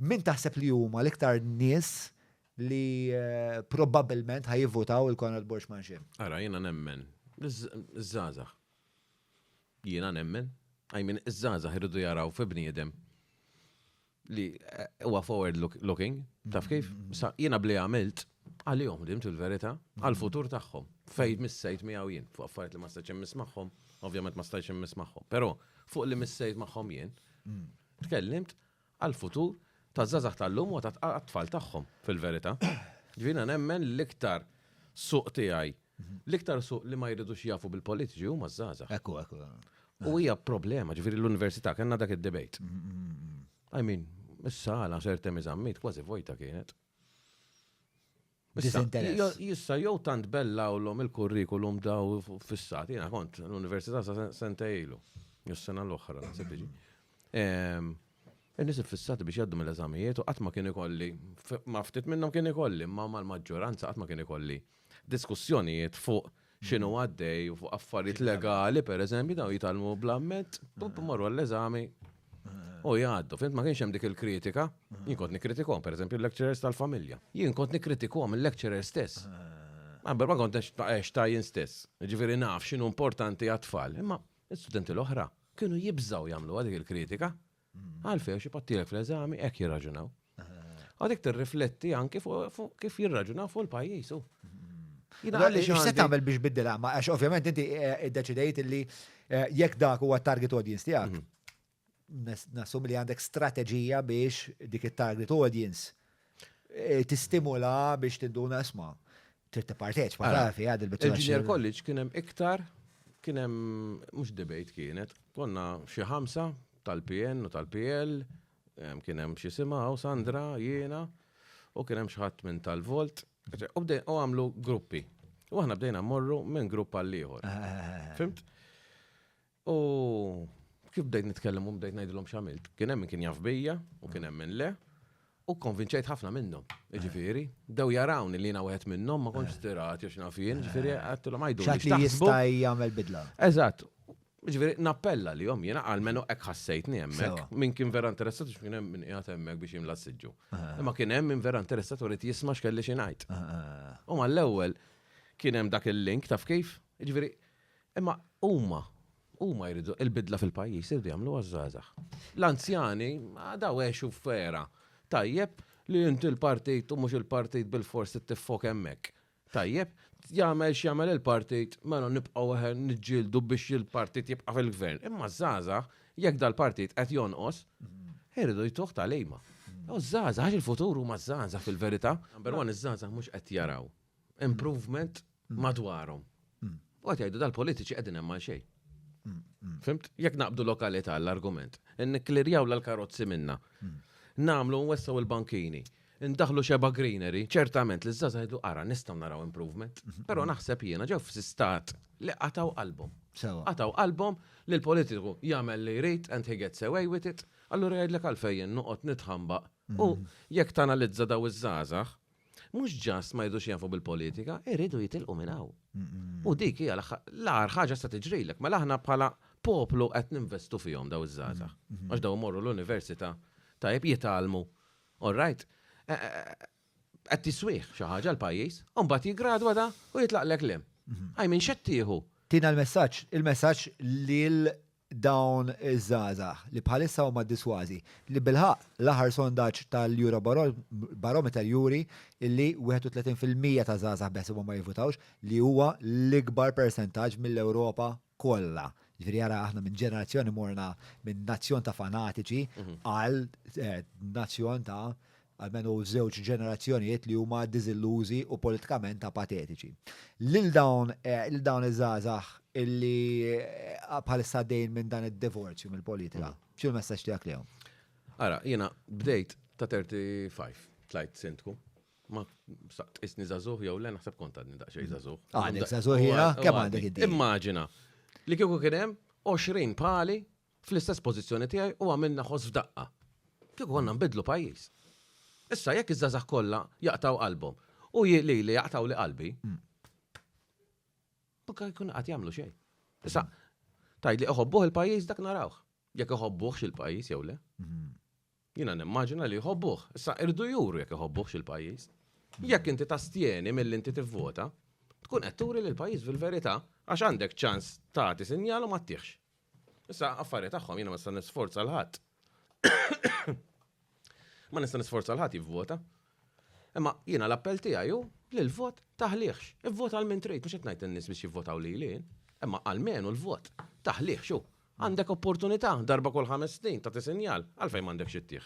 Min taħseb li huma l-iktar nies li probabbilment ħajivvutaw il-Konrad Borg Manxin? Ara, jiena nemmen, iż-żgħażagħ. Jiena nemmen, I mean, iż-żgħażagħ irridu jaraw fi bniedem li eh, huwa forward looking, taf kif? Mm-hmm. Sa jiena bli għamilt għalihom dimt il-verità, mm-hmm. għal-futur tagħhom. Fejn missejt miegħu jien, fuq affarijiet li ma stajtx immiss magħhom, ovvjament ma stajtx immiss magħhom. Però fuq li missejt magħhom jien, mm. tkellimt għall-futur taż-żgħażagħ tal-lum u għat-tfal tagħhom fil-verità. Ġifieri jiena nemmen li l-iktar suq tiegħi, l-iktar suq li ma jridux jafu bil-politiċi huma ż-żgħażagħ. Ekku, ekku. U hija problema, ġifieri l-università kellna dak id-debate. I mean, is-sala ser temm iżammit kważi vojta kienet. Disinteress. Jissa jew tant bellawlhom il-kurrikulum daw fissati, jiena kont l-Università sa senta ilu, s-sena l-oħra, nasib tiġi. Nisib fissati biex jaddu mill-eżamijiet u qatt ma kien ikolli, ma ftit minnhom kien ikolli, ma mal-maġġoranza qatt ma kien ikolli diskussjonijiet fuq x'inhu għaddej u fuq affarijiet legali, per eżempju, daw jitgħallmu bl-amment, pup marru għall-eżami. U jgħaddu, fint ma kienx hemm dik il-kritika, jien kont nikkritikuhom, per eżempju, l-lecturers tal-familja. Jien kont nikkritikuhom il-lecturer stess. Għabber ma kont ex ta' jien stess. Ġifieri naf x'inhu importanti għat-tfal, imma studenti l-oħra kienu jibżgħu jagħmlu dik il-kritika. Għalfejn xi pattilek fl-eżami hekk jirraġunaw. Għadik tirrifletti anki fuq kif jirraġunaw fuq il-pajjiż. X'se tagħmel biex biddil għama? Għax ovvjament inti eh, iddeċidejt li eh, jekk dak huwa target audience tiegħek, mhm. nassum li għandek strateġija biex dik it-target audience tistimula biex tidduna isma' trid tipparteċipa Ara, taf jgħad il-biċċa. Il-Junior College kien hemm iktar kien hemm mhux debate kienet, konna xi ħamsa tal-PN u tal-PL, em, kien hemm xi simgħu Sandra, jiena, u kien hemm xi ħadd minn tal-Volt, eċe- u bdej- u għamlu gruppi. U aħna bdejna mmorru minn grupp għall ieħor. Fimt? U kif bdejt nitkellem u bdejt ngħidilhom x'għamilt. Kien hemm min kien jaf bija u kien hemm min le. U konvinċejt ħafna minnhom, ġifieri. Dew jarawni li jiena wieħed minnhom ma kontx tirat jew x'naf jien, ġifieri għedtilhom għajdu. X'għad li jista' jagħmel bidla. Eżatt. Ġifieri nappella li jom jiena għal menu hekk ħassejtni hemmhekk. Min kien vera interessat biex kien hemm min qiegħed hemmhekk biex jimla s-siġġu. Imma kien hemm min vera interessat u rid jisma' x'kelli xi ngħid. U mal-ewwel kien hemm dak il-link taf kif? Ġifieri Imma huma, huma jridu il-bidla fil-pajjiż jridu jagħmluha ż-żgħażagħ. L-anzjani daw għexu f'era tajjeb li inti l-partit u mhux il-partit bilfors trid tiffok hemmhekk. Tajjeb, jagħmel x'jagħmel il-partit mela nibqgħu eħe niġġieldu biex il-partit jibqa' fil-gvern. Imma ż-żgħażagħ jekk dal-partit qed jonqos, iridu jtuh tagħlima. U ż-żgħażagħ għax il-futur huma ż-żgħażagħ fil-verità. Number one, iż-żgħażagħ mhux qed jaraw improvement madwarhom. U għat jgħidu dal-politiċi qegħdin hemm għal xejn. Fimt? Jekk naqbdu lokalità l-argument, n-klirjaw l-karozzi minna, namlu nwessaw il-bankini, ndaħlu xeba greenery, ċertament li z-zaza jgħidu ara nistaw naraw improvement, mhm. pero naħseb jiena ġew f-sistat li qataw qalbhom. Qataw qalbhom li l-politiku jagħmel li jrid and he gets away with it, allura jgħidlek għalfejn noqgħod nitħamba. U mhm. jekk tanalizza daw iż-żgħażagħ, Mhux ġast ma jridux jafu bil-politika, iridu jitilqu minn hawn. U dik hija l-agħar ħaġa se tiġrilek. Mela aħna bħala poplu qed ninvestu fihom daw iż-żgħażagħ. Għax daw imorru l-università, tajjeb jitgħallmu, all right, qed tiswih xi ħaġa l-pajjiż, u mbagħad jiggradwa da u jitlaqlek l-hemm. I mean x'qed tieħu? Tina l-messaġġ, il-messaġġ lil dawn iż-żgħażagħ li bħalissa huma ddisważi, li bilħaqq l-aħħar sondaġġ tal-Eurobarometer juri li 31 fil-mija ta' żgħażagħ beħsiebhom ma jivvutawx, li huwa l-ikbar persentaġġ mill-Ewropa kollha. Jiġifieri ara aħna minn ġenerazzjoni morna minn nazzjon ta' fanatiċi għal nazzjon ta' almenu żewġ ġenerazzjonijiet li huma diżillużi u politikament apatetiċi. Lil dawn lil dawn iż-żgħażagħ illi bħalissa għaddejjin minn dan id-divorzju mill-politika, x'inhu l-messaġġ tiegħek lejhom? Ara, jiena bdejt ta' 35, tlajt sindku. Ma saqt isni żagħżugħ jew le naħseb kont għadni daqsxejn żagħżugħ. Għadek żagħżugħ jiena kemm għandek inti? Immaġina li kieku kien hemm 20 pali fl-istess pożizzjoni tiegħi u għamilna ħoss f'daqqa. Kieku konna nbiddlu pajjiż. Issa jekk iż-żgħażagħ kollha jaqtgħu qalbhom u lili jaqtgħuli qalbi, ma kien ikun qed jagħmlu xejn. Issa tgħidli iħobbuh il-pajjiż dak narawh. Jekk iħobbuhx il-pajjiż jew le. Jiena nimmaġina li jħobbuh. Issa irdu juru jekk iħobbuhx il-pajjiż. Jekk inti tastjeni milli inti tivvota, tkun qed turi li l-pajjiż fil-verità għax għandek ċans tagħti sinjal u ma ttihx. Issa affarijiet tagħhom jiena ma nista' nisforza 'l ħadd. Ma nista' nisforza 'l ħadd jivvota. Imma jiena l-appell tiegħi hu li l-vot taħlihx. Ivvota għal min trid, mhux qed ngħid lin-nies biex jivvotaw lili jien. Imma almenu l-vot taħlihx hu. Għandek opportunità darba kull ħames snin tagħti sinjal, għalfejn m'għandekx ittih?